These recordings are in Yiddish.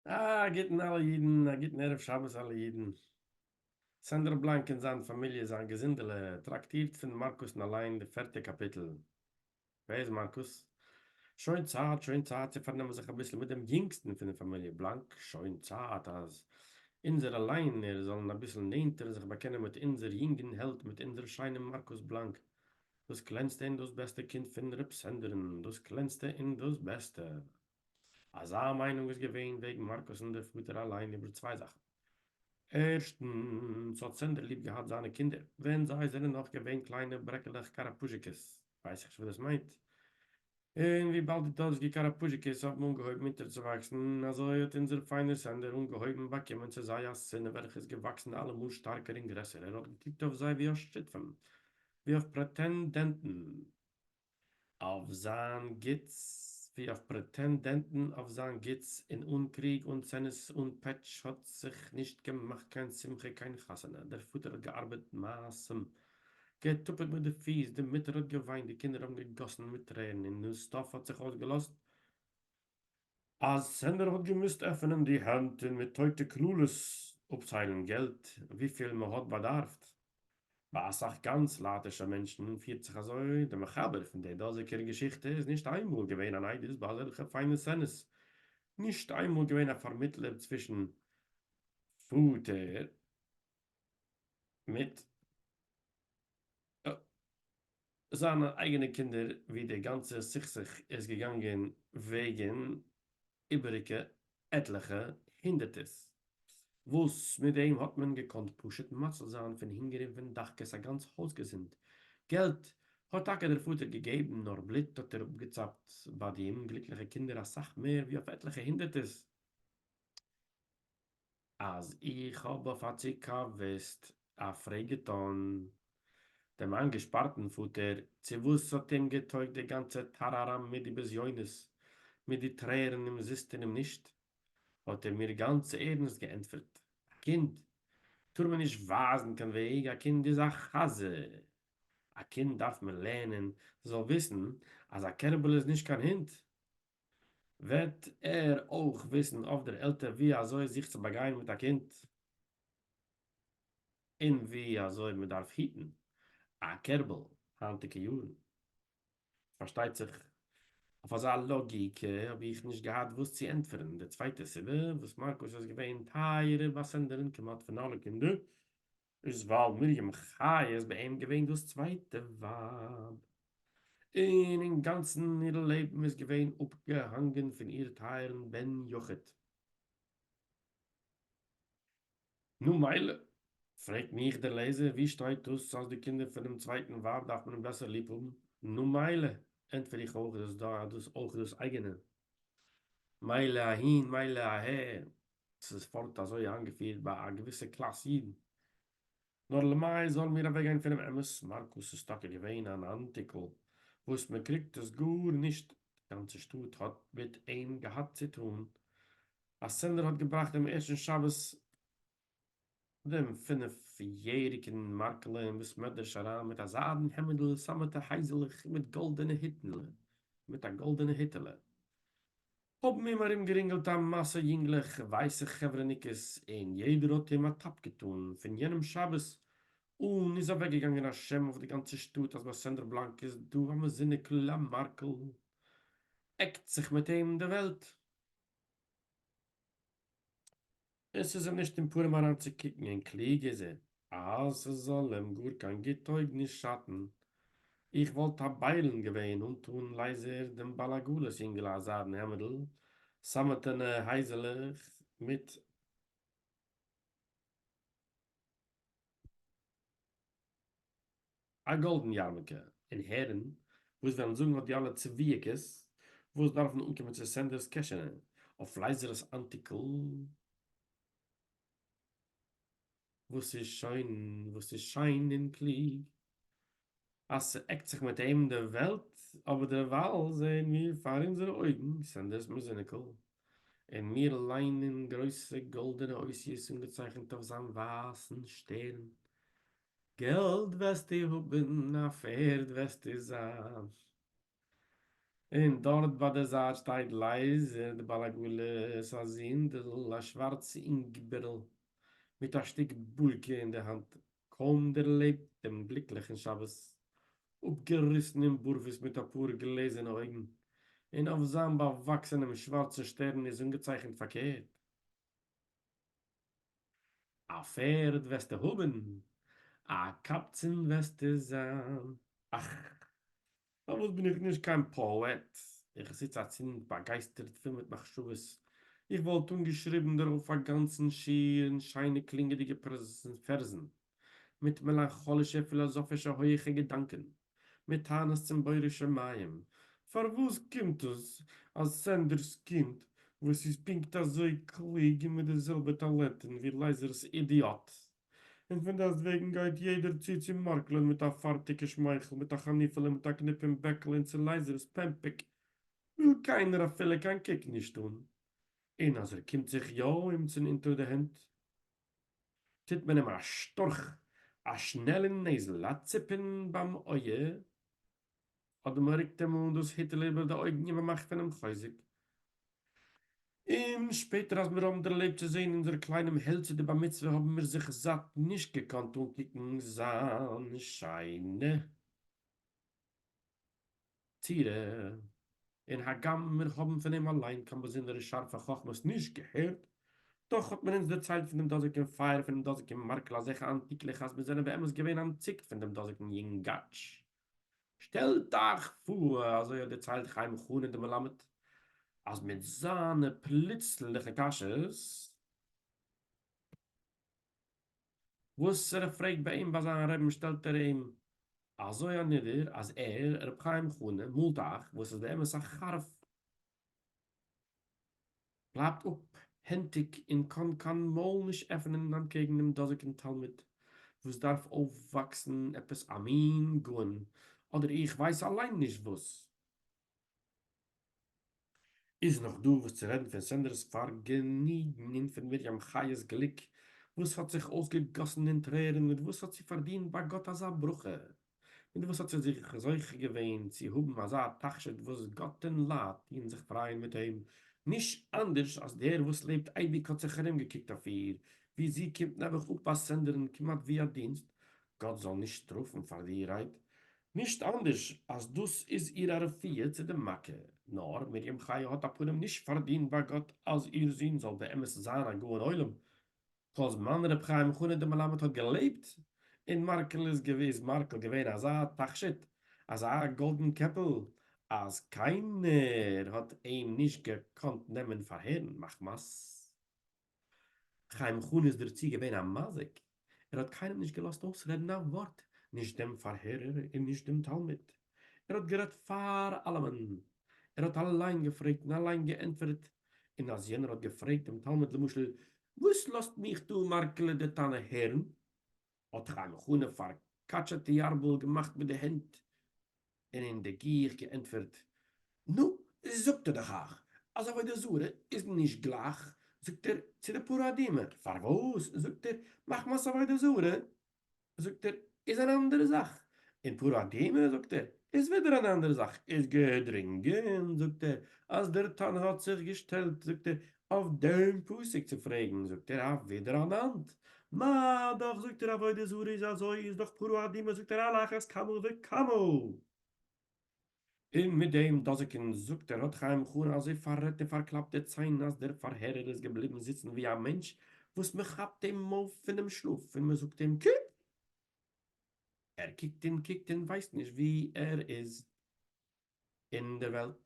א גוטן אלע אידן, א גוטן ערב שבת אלע אידן. סענדער בלאנק און זיין פאמיליע זיין געזונדעלע טראקטירט פון מארקוס און אליין די פערטע קאפיטל. ווער איז מארקוס? שוין צייט שוין צייט צו פארנעמען זיך אביסל מיט דעם יונגסטן פון די פאמיליע בלאנק, שוין צייט אז אונזערע ליינער זאלן אביסל נענטער זיך באקענען מיט אונזער יונגן העלד מיט אונזער שיינעם מארקוס בלאנק דאס קלענסטע און דאס בעסטע קינד פון רב סענדער'ן, דאס קלענסטע און דאס בעסטע. אזא מיינונג איז געווען וועגן מארקוס'ן דער פאטער אליין איבער צוויי זאכן. ערשטנס האט סענדער ליב געהאט זיינע קינדער ווען זיי זענען נאך געווען קליינע ברעקעלעך קאראפוזשיקעס, ווייס איך נישט וואס דאס מיינט, און וויבאלד די דאזיגע קאראפוזשיקעס האבן אנגעהויבן אונטערצואוואקסן, אזוי האט אונזער פיינער סענדער אנגעהויבן באקומען צו זיי א שנאה וועלכע איז געוואקסן אלעמאל שטארקער און גרעסער, ער האט געקוקט אויף זיי ווי אויף שותפים, ווי אויף פרעטענדענטן אויף זיין גוטס, ווי אויף פרעטענדענטן אויף זיין גוטס, און אן קריג, אן צנות, אן פעטש האט זיך נישט געמאכט קיין שמחה, קיין חתונה, דער פאטער האט געארבעט מעשים געטופּעט מיט די פֿיס, די מוטער האָט געװײנט, די קינדער האָבן געגאָסן מיט טרערן און נאָן-סטאָפּ האָט זיך אױסגעלאָזט, אַז סענדער האָט געמוזט עפֿענען די הענט און מיט טױטע קללות אָפּצײלן געלט, װיפֿיל מע האָט באַדאַרפֿט. בײַ אַ סך גאַנץ לײַטישע מענטשן פֿירט זיך אַזױ. דער מחבר פֿון דער דאָזיקער געשיכטע איז נישט אײן מאָל געװען אַן עדות בײַ אַזעלכע פֿײַנע סצענעס, נישט אײן מאָל געװען אַ פֿאַרמיטלער צװישן פֿאָטער מיט זיינע אייגענע קינדער ווי די גאנצע סכסוך איז געגאנגען וועגן איבעריגע עטליכע הונדערטערס וואס מיט דעם האט מען געקאנט פשוט מציל זיין פון הונגער און פון דחקות א גאנץ הויז געזונט געלט האט טאקע דער פאטער געגעבן נאר בלוט האט ער אפגעצאפט ביי די אומגליקליכע קינדער אסאך מער ווי אויף עטליכע הונדערטערס. אַז איך האָב אויף אַ צוקאַוויסט אַ פֿרעג געטאָן דעם אײַנגעשפּאַרטן פֿאָטער, צו וואָס ס'האָט אים געטויגט די גאַנצע טאַראַראַם מיט די בזיונות, מיט די טרערן אומזיסט און אומנישט, האָט ער מיר גאַנץ ערנסט געענטפֿערט, אַ קינד טאָר מען נישט ווײַזן קיין וועג, אַ קינד איז אַ חזיר! אַ קינד דאַרף מען לערנען, ס'זאָל וויסן, אַז אַ קערבל איז נישט קיין הונט! וועט ער אויך וויסן אויף דער עלטער ווי אזוי זיך צו באגיין מיט א קינד און ווי אזוי מען דארף היטן א קערבל היינטיגע יארן. פארשטייט זיך אויף אזא לאגיקע האב איך נישט געהאט וואס צו ענטפערן. די צווייטע סיבה וואס מארקוס איז געווען טייערער ביי סענדער'ן כמעט פון אלע קינדער איז ווייל מרים חיה איז ביי אים געווען דאס צווייטע ווייב, און אינגאנצן איר לעבן איז געווען אפגעהאנגען פון איר טייערן בן יחיד. נו מילא, פרעגט מיך דער לעזער, וואו שטייט דאס אז די קינדער פונעם צווייטן ווייב דארף מען בעסער ליב האבן? נו מילא, ענטפער איך אויך דאס אויך דאס אייגענע, מילא אהין מילא אהער, ס'איז פארט אזוי איינגעפירט ביי א געוויסע קלאס אידן. נאר למאי זאלן מיר אוועקגיין פונעם אמת? מארקוס איז טאקע געווען אן אנטיקל וואס מ'קריגט עס גארנישט, די גאנצע שטאט האט מיט אים געהאט צוטאן. א סענדער האט געבראכט דעם ערשטן שבת דעם פינף יעריגן מארקלע אין בית מדרש אריין מיט א זיידן העמעדל, סאמעטע הייזעלעך מיט גאלדענע היטנלע מיט א גאלדענע היטעלע. האָבן אים אַרומגערינגלט אַ מאַסע ייִנגלעך, ווײַסע חבֿרהניקעס, און יעדער האָט אים אַ טאַפּ געטאָן. פֿון יענעם שבת אָן איז אַוועקגעגאַנגען אַ שם אויף דער גאַנצער שטאָט, אַז בײַ סענדער בלאַנק איז דאָ אַ מזוניקל, אַ מאַרקל עקט זיך מיט אים די וועלט. און ס'איז אים נישט אין פּנים אַרײַנצוקוקן, און קלוג איז ער, אַז ס'זאָל אים גאָר קײן גוט טױג נישט שאַטן. איך װאָלט אַ בײלן געװען, אָנטאָן לײזער דעם בעל-עגלות-ייִנגעלע אַ זײַדן העמדל, סאַמעטענע הײזעלעך מיט. א גאלדן יארמולקע און הערן וואס וועלן זאגן אט די אלע צביעקעס וואס דארפן אנקומען צו סענדערס קעשענע אויף לייזערס אנטיקל וואס איז שוין וואס איז שיין און קלוג אז ס'עקט זיך מיט אים די וועלט אבער דערווייל זעען מיר פאר אונזערע אויגן סענדערס מוזיניקל און מיר ליינען גרויסע גאלדענע אותיות אנגעצייכנט אויף זיין ווייסן שטערן געלט וועסטו האבן, א פערד וועסטו זיין, און דארט ביי די זייט שטייט לייזער די בעל עגלה'ס א זונדל, א שווארץ אינגבערל מיט א שטיק בולקע אין די האנט, קוים דערלעבט דעם גליקליכן שבת, אפגעריסן אין בארוועס מיט אפאר גלעזערנע אויגן, און אויף זיין באוואקסענעם שווארצן שטערן איז אנגעצייכנט פארקערט. אַ פֿערד װעסטו האָבן, אַ קבצן װעסטו זײַן. אַך, פֿאַרװאָס בין איך נישט קײן פּאָעט? איך זיץ אַצינד באַגײַסטערט פֿול מיט מחשבֿות. איך װאָלט אָנגעשריבן דערױף אַ גאַנצן שיר אין שײנע קלינגעדיקע פֿערזן. מיט מעלאנכאלישע פילאזאפישע הויעכע געדאנקען, מיט טענות צום בורא שמים, פארוואס קומט עס אז סענדער'ס קינד וואס איז פונקט אזוי קלוג און מיט די זעלבע טאלענטען ווי לייזער'ס אידיאט, און פון דארט וועגן גייט יעדער צו צו מארקלען מיט א פארטיגע שמייכל מיט א חניפעלע מיט א קניפ אין בעקל און צו לייזער'ס פעמפעק וויל קיינער אפילו קיין קוק נישט אן, און אז ער קומט זיך יא אומצן אונטער די הענט טוט מען אים א שטורך, א שנעלען נעזל, א ציפען ביים אויע, אדער מען רוקט אים אן דאס היטעלע איבער די אויגן און מען מאכט פון אים חוזק. און שפעטער אז מיר האבן דערלעבט צו זען אונזער קליינעם העלדזי די בר מצוה האבן מיר זיך זאט נישט געקאנט אנקוקן זיין שיינע. תראה, און הגם מיר האבן פון אים אליין קיין באזונדערע שארפע חכמות נישט געהערט, דאך האט מען אונז דערציילט פון דעם דאזיקן פייער פונעם דאזיקן מארקל אזעלכע אנטיקלעך אז מיר זענען באמת געווען אנטציקט פון דעם דאזיקן יונגאטש. שטעלט אייך פאר, אזוי האט דערציילט חיים חנין דער מלמד, אז מיט זיינע פלוצלינגליכע קשיות, וואס ר' פרעגט ביי אים ביי זיין רעבן שטעלט ער אים אזוי אנידער אז ער, ר' חיים חנה, מאלט אייך וואס איז באמת א חרפ. בלייבט אפ הענטיג און קאן קיין מויל נישט עפענען אנטקעגן דעם דאזיגן תלמיד וואס דארף אויפוואקסן עפעס א מין גאון אדער איך ווייס אליין נישט וואס. איז נאך דא וואס צו רעדן פון סענדער'ס פארגעניגן און פון מרים חייה'ס גליק וואס האט זיך אויסגעגאסן אין טרערן מיט וואס האט זי פארדינט ביי גאט אזא ברכה? מיט וואס האט זי זיך זוכה געווען צו האבן אזא תכשיט וואס גאט און לייט טוען זיך פרייען מיט אים נישט אנדערש אז דער וואס לעבט אייביג האט זיך ארום געקוקט אויף איר ווי זי קומט נעבעך אפ ביי סענדער'ן כמעט ווי א דינסט גאט זאל נישט שטראפן פאר די רייד נישט אנדערש אז דאס איז איר א רפואה צו די מכה, נאר מרים חיה האט אפנים נישט פארדינט ביי גאט אז איר זון זאל באמת זיין א גאון עולם, כל זמן ר' חיים חנא דער מלמד האט געלעבט און מארקל איז געוויס מארקל געווען אזא תכשיט, אזא גאלדן קעפל, אז קיינער האט אים נישט געקאנט נעמען פאר הערן מחמת. חיים חנא איז דערצו געווען א מזיק, ער האט קיינעם נישט געלאזט אויסרעדן א ווארט, נישט דעם פארהערער און נישט דעם תלמיד, ער האט גערעדט פאר אלעמען, ער האט אליין געפרעגט און אליין געענטפערט, און אז יענער האט געפרעגט דעם תלמיד למשל, וואס לאזט מיך דו מר כ ל דער תנא הערן? האָט זיך אַן חנה פֿאַרקאַטשעטע יאַרבל געמאַכט מיט די הענט און אין דער גיך געענטפֿערט, נו, זאָגט ער דאָך אײַך, אַז עבֿודה-זרה איז נישט גלײַך, זאָגט ער, צו די פּאַראַדימע. פֿאַר װאָס, זאָגט ער, מחמת עבֿודה-זרה, זאָגט ער, איז אַן אַנדערע זאַך, און פּאַראַדימע, זאָגט ער, איז װידער אַן אַנדערע זאַך, איז געדרונגען, זאָגט ער, אַז דער טאַן האָט זיך געשטעלט, זאָגט ער, אויף דעם פסק צו פרעגן זאגט ער אויף ווידער אן אנד מ דאך זאגט ער עבודה זרה איז אזוי איז דאך פרא אדומה זאגט ער על אחת כמה וכמה און מיט דעם דאזיגן זאגט ער האט חיים חרן אזוי פאררעדט און פארקלאפט די ציין אז דער פארהערער איז געבליבן זיצן ווי א מענטש וואס מען כאפט אים אויף פונעם שלאף און מען זאגט אים קוק! ער קוקט און קוקט און ווייסט נישט ווי ער איז. אין דער וועלט.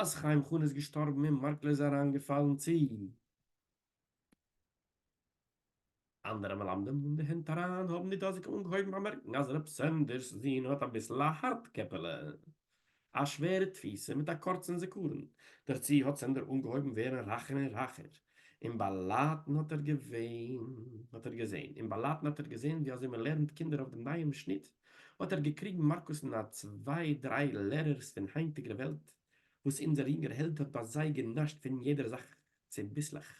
אַז חיים חנה איז געשטאָרבן און מאַרקלע איז אַרײַנגעפֿאַלן צו אַנדערע מלמדים אין די הענט אַרײַן, האָבן די דאָזיקע אָנגעהויבן באַמערקן, אַז רב סענדערס זון האָט אַ ביסל אַ האַרט קעפּעלע, אַ שווערע תּפֿיסה מיט אַ קורצן זיכּרון. דערצו האָט סענדער אָנגעהויבן ווערן רײַכער און רײַכער. אין באלאטן האט ער געווען, האט ער געזעהן, אין באלאטן האט ער געזעהן ווי אזוי מען לערנט קינדער אויף דעם נייעם שניט, האט ער געקריגן מארקוס און א צוויי דריי לערערס פון היינטיגער וועלט, וואס אונזער יונגער העלד האט ביי זיי גענאשט פון יעדער זאך צוביסלעך,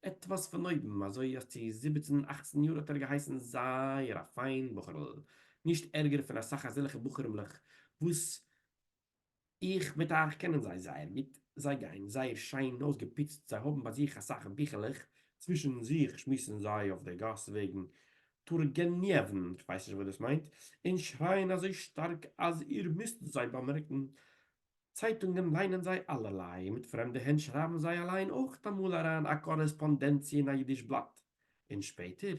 עטוואס פון אויבן, אזוי אז צו זיבעצן אכצן יאר האט ער געהייסן זייער א פיין בחור'ל, נישט ערגער פון אסאך אזעלכע בחורים'לעך וואס איך מיט אייך קענען זיי זייער גוט, זיי גייען זייער שיין אויסגעפוצט, זיי האבן ביי זיך אסאך ביכלעך, צווישן זיך שמועסן זיי אויף דער גאס וועגן טורגעניעוון, איך ווייס נישט וואס דאס מיינט, און שרייען אזוי שטארק אז איר מוזט זיי באמערקן. צייטונגען ליינען זיי אלערליי, מיט פרעמדע הענט שרייבן זיי אליין אויך אמאל אריין א קארעספאנדענציע אין א אידיש בלאט. און שפעטער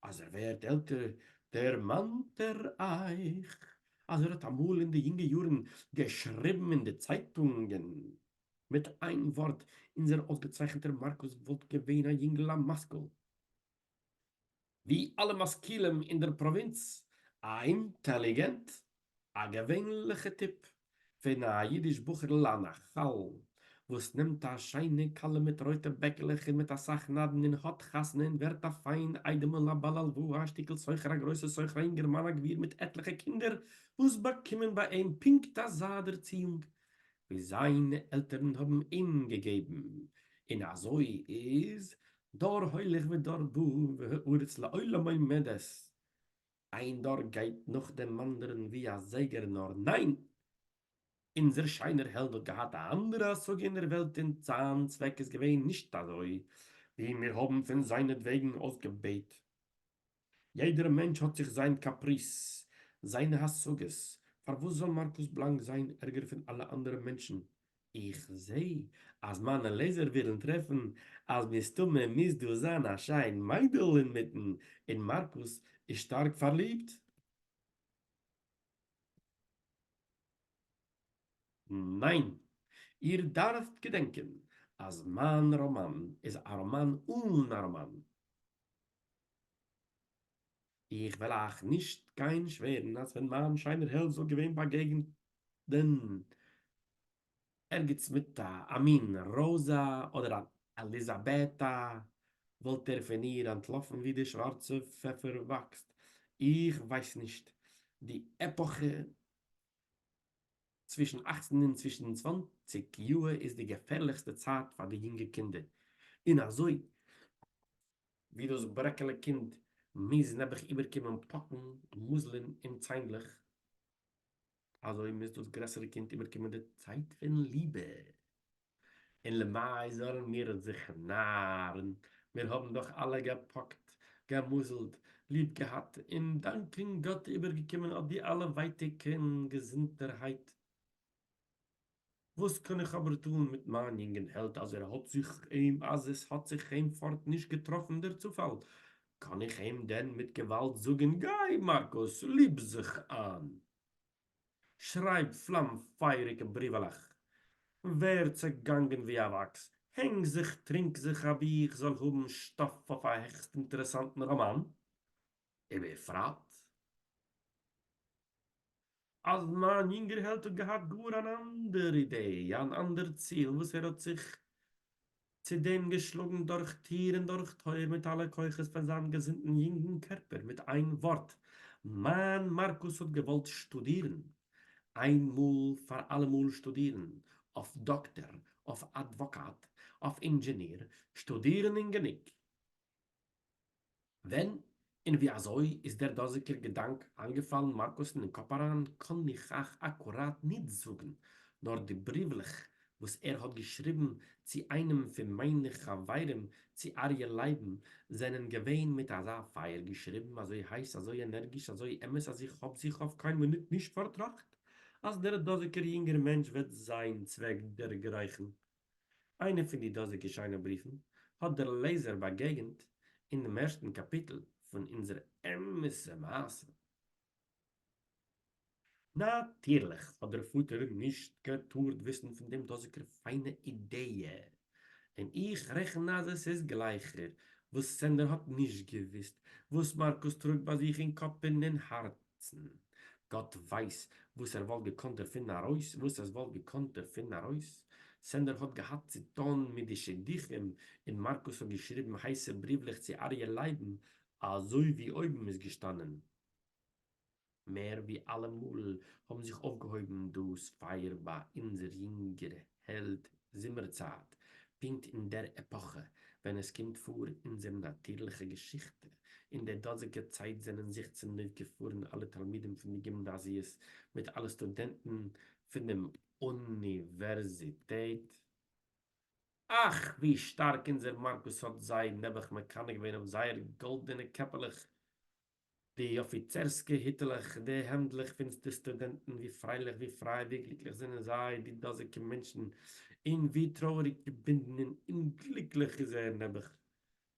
אז ער ווערט עלטער דערמאנט ער אייך אז ער האט אמאל אין די יונגע יארן געשריבן אין די צייטונגען מיט איין ווארט אונזער אויסגעצייכנטער מארקוס וואלט געווען א יונגל א משכיל ווי אלע משכילים אין דער פראווינץ א אינטעליגענט א געווענליכע טיפ פון א אידיש בחור'ל אן א כל וואס נעמט א שיינע כלה מיט רויטע בעקלעך און מיט אסאך נדן און האט חתונה און ווערט א פיין איידעמל א בעל הלוואה א שטיקל סוחר א גרויסע סוחר א אינגערמאן א גביר מיט עטליכע קינדער וואס באקומען ביי אים פונקט אזא ערציאונג ווי זיינע עלטערן האבן אים געגעבן און אזוי איז דור הולך ודור בא והארץ לעולם עומדת איין דור גייט נאך דעם אנדערן ווי א זייגער נאר ניין! אונזער שיינער העלד האט געהאט א אנדערע השגה אין דער וועלט און זיין צוועק איז געווען נישט אזוי ווי מיר האבן פון זיינעטוועגן אויסגעבעט. יעדער מענטש האט זיך זיין קאפריז, זיינע השגות, פארוואס זאל מארקוס בלאנק זיין ערגער פון אלע אנדערע מענטשן איך זעה אז מיינע לעזער ווילן טרעפן אז מסתמא מוז דא זיין א שיין מיידל אינמיטן און מארקוס איז שטארק פארליבט. ניין! איר דארפט געדענקען אז מיין ראמאן איז א ראמאן אן א ראמאן. איך וועל אייך נישט גיין שווערן אז ווען מיין שיינער העלד זאל געווען באגעגענען ערגעץ מיט א מין ראזא אדער אן עליזאבעטא וואלט ער פון איר אנטלאפן ווי די שווארצע פעפער וואקסט. איך ווייס נישט די עפאכע צווישן אכצן און צווישן צוואנציג יאהר איז די געפערליכסטע צייט פאר די יונגע קינדער און אזוי ווי דאָס ברעקעלע קינד מוז נעבעך איבערקומען פּאָקן, מזלים און ציינדלעך, אַזוי מוז דאָס גרעסערע קינד איבערקומען די צייט פון ליבע. און למאַי זאָלן מיר זיך נאַרן, מיר האָבן דאָך אַלע געפּאָקט, געמזלט, ליב געהאַט און, דאַנקען גאָט, איבערגעקומען אָט די אַלע ווייטיקן געזונטערהייט. װאָס קאָן איך אָבער טאָן מיט מײַן יונגן העלד, אַז ער האָט זיך אים, אַז עס האָט זיך אים פֿאָרט נישט געטראָפֿן דער צופֿאַל? קאָן איך אים דען מיט געװאַלד זאָגן, גײ, מאַרקוס, ליב זיך אײַן, שרײַב פֿלאַם-פֿײַעריקע בריװעלעך, װער צעגאַנגען װי אַ װאַקס, הענג זיך, טרינק זיך, אַבי איך זאָל האָבן שטאָף אױף אַ העכסט-אינטערעסאַנטן ראָמאַן? ובפֿרט, אז מיין יונגער העלד האט געהאט גאר אן אנדער אידעי, אן אנדער ציל וואס ער האט זיך צו דעם געשלאגן דורך טיר און דורך טויער מיט אלע כוחות פון זיין געזונטן יונגן קערפער, מיט איין ווארט, מיין מארקוס האט געוואלט שטודירן, איין מאל פאר אלעמאל שטודירן, אויף דאקטער, אויף אדוואקאט, אויף אינדזשעניר, שטודירן און גענוג. ווען און ווי אזוי איז דער דאזיקער געדאנק איינגעפאלן מארקוסן אין קאפ אריין, קאן איך אייך אקוראט ניט זאגן, נאר די בריוולעך, וואס ער האט געשריבן צו איינעם פון מיינע חברים, צו אריה לייבן, זענען געווען מיט אזא פייער געשריבן, אזוי הייס, אזוי ענערגיש, אזוי אמת, אז איך האב זיך אויף קיין מינוט נישט פארטראכט, אז דער דאזיקער יונגער מענטש וועט זיין צוועק דערגרייכן, איינע פון די דאזיגע שיינע בריפן האט דער לעזער באגעגנט אינעם ערשטן קאפיטל פון אונזער אמת'ע מעשה. נאטירליך האט דער פאטער נישט געטארט וויסן פון דעם דאזיגער פיינע אידעיע, און איך רעכן אז עס איז גלייכער וואס סענדער האט נישט געוויסט וואס מארקוס טראגט ביי זיך אין קאפ און אין הארץ. זעצן. גאט ווייס וואס ער וואלט געקאנט דערפון ארויס, וואס עס וואלט געקאנט דערפון ארויס. סענדער האט געהאט צו טון מיט די שידוכים, און מארקוס האט געשריבן הייסע בריוולעך צו אריה לייבן, אזוי ווי אויבן איז געשטאנען. מער ווי אלעמאל האבן זיך אויפגעהויבן דאס פייער ביי אונזער יונגערע. העלד זומער צייט, פונקט אין דער עפאכע ווען עס קומט פאר אונזער נאטירליכע געשיכטע, אין דער דאזיגע צייט זענען זיך צונויף געפארן אלע תלמידים פון די גימנאזיעס מיט אלע סטודענטן פון דעם אוניווערזיטעט, אך ווי שטארק אונזער מארקוס האט זיי נעבעך מקנא געווען אויף זייער גאלדענע קעפעלעך די אָפֿיצערסקע היטלעך, די העמדלעך פֿונס די סטודענטן, ווי פֿריילעך, ווי פֿרײַ, ווי גליקלעך זענען זיי, די דאָזיקע מענטשן, און ווי טרויעריק, געבונדן און אומגליקלעך איז ער, נעבעך,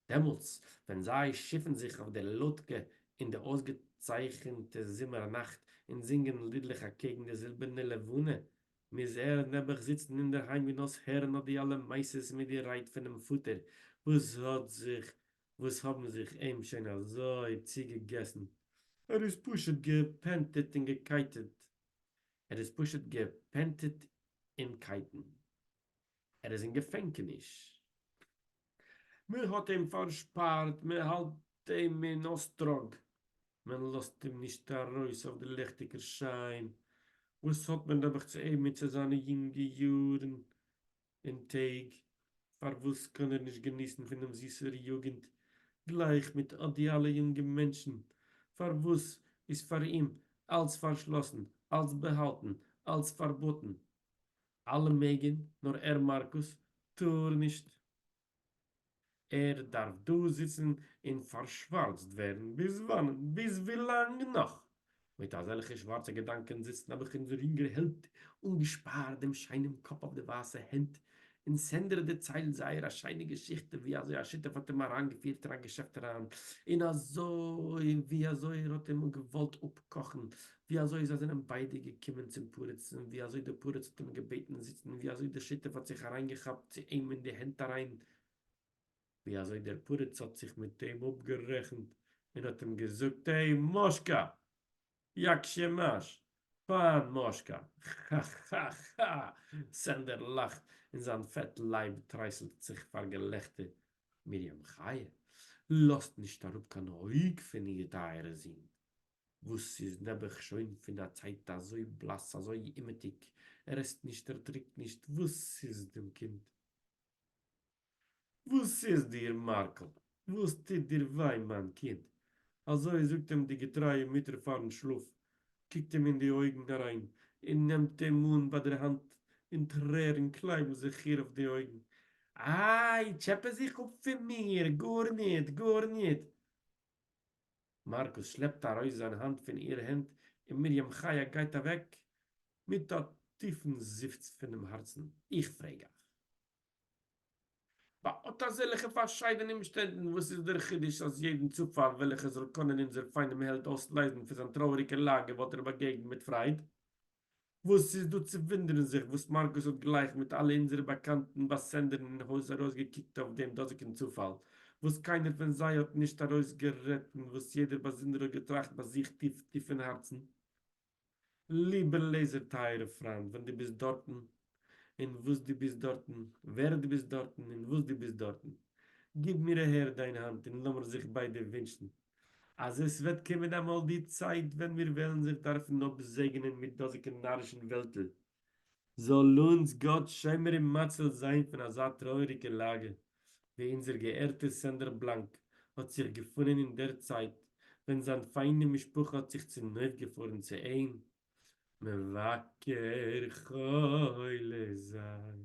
דעמאָלטס, ווען זיי שיפֿן זיך אויף דער לאָדקע אין די אויסגעצייכנטע זומער-נאַכט און זינגען לידלעך אַקעגן די זילבערנע לבֿנה, מוז ער, נעבעך, זיצן אין דער היים און אויסהערן אָט די אַלע מעשׂות מיט די רייד פֿונעם פֿאָטער, וואָס האָט זיך וואס האבן זיך אים שוין אזוי צוגעגעסן, ער איז פשוט געפענטעט און געקייטעט, ער איז פשוט געפענטעט אין קייטן, ער איז אין געפענקעניש, מען האט אים פארשפארט, מען האלט אים אין אויסטראג, מען לאזט אים נישט ארויס אויף די ליכטיגער שיין, וואס האט מען נעבעך צו אים און צו זיינע יונגע יארן, און טעג, פארוואס קען ער נישט געניסן פון דעם זיסער יוגענט גלייך מיט אט די אלע יונגע מענטשן, פארוואס איז פאר אים אלץ פארשלאסן, אלץ באהאלטן, אלץ פארבאטן? אלע מעגן, נאר ער מארקוס טאר נישט? ער דארף דא זיצן און פארשווארצט ווערן ביז וואנען? ביז ווילאנג נאך? מיט אזעלכע שווארצע געדאנקען זיצן האב איך אונזער יונגער העלד אנגעשפארט דעם שיינעם קאפ אויף די ווייסע הענט, און סענדער דערציילט זייער א שיינע געשיכטע ווי אזוי השותף האט אים אריינגעפירט אין א געשעפט אריין, און אזוי און ווי אזוי ער האט אים געוואלט אפקאכן ווי אזוי זיי זענען ביידע געקומען צום פורץ און ווי אזוי דער פורץ האט אים געבעטן זיצן און ווי אזוי דער שותף האט זיך אריינגעכאפט צו אים אין די הענט אריין ווי אזוי דער פורץ האט זיך מיט אים אפגערעכנט און האט אים געזאגט עי מאשקא יאקשעמאש פיין מאשקא כאכאכא סענדער לאכט און זיין פעט לייב טרייסלט זיך פאר געלעכטער מרים חיה לאזט נישט אראפ קיין אויג פון איר טייערע זון וואס איז נעבעך שוין פון א צייט אזוי בלאס אזוי אומעטיג, ער עסט נישט ער טרינקט נישט, וואס איז דעם קינד? וואס איז דיר מארקל? וואס טוט דיר וויי מיין קינד? אזוי זאגט אים די געטרייע מוטער פארן שלאף, קוקט אים אין די אויגן אריין און נעמט אים אן ביי דער האנט און טרערן קלייבן זיך איר אויף די אויגן, איי טשעפע זיך אפ פון מיר, גארניט גארניט! מאַרקוס שלעפּט אַרױס זײַן האַנט פֿון איר הענט און מרים-חיה גײט אַװעק מיט אַ טיפֿן זיפֿץ פֿונעם האַרצן. איך פֿרעג אײַך, בײַ אָט אַזעלכע פֿאַרשײדענע אומשטענדן, װאָס איז דער חידוש, אַז יעדן צופֿאַל, װעלכער זאָל קאָנען אונדזער פֿײַנעם העלד אױסלײזן פֿון זײַן טרױעריקער לאַגע, װאָלט ער באַגעגנט מיט פֿרײד? וואס איז דא צו וואונדערן זיך וואס מארקוס האט גלייך מיט אלע אונזערע באקאנטן ביי סענדערן אין הויז ארויסגעקוקט אויף דעם דאזיגן צופאל, וואס קיינער פון זיי האט נישט ארויסגערעדט און וואס יעדער באזונדער האט געטראכט ביי זיך טיף טיף אין הארצן, ליבער לעזער טייערער פריינט ווען דו ביסט דארטן און וואס דו ביסט דארטן, ווער דו ביסט דארטן און וואס דו ביסט דארטן, גיב מיר אהער דיין האנט און לאמיר זיך ביידע ווינטשן אז עס וועט קומען אמאל די צייט ווען מיר וועלן זיך דארפן אפזעגענען מיט דאזיקע נארישן וועלטל, זאל אונז גאט שומר און מציל זיין פון אזא טרויעריגע לאגע ווי אונזער געערטער סענדער בלאנק האט זיך געפונען אין דער צייט ווען זיין פיינע משפחה האט זיך צונויפגעפארן צו אים מבקר חולה זיין.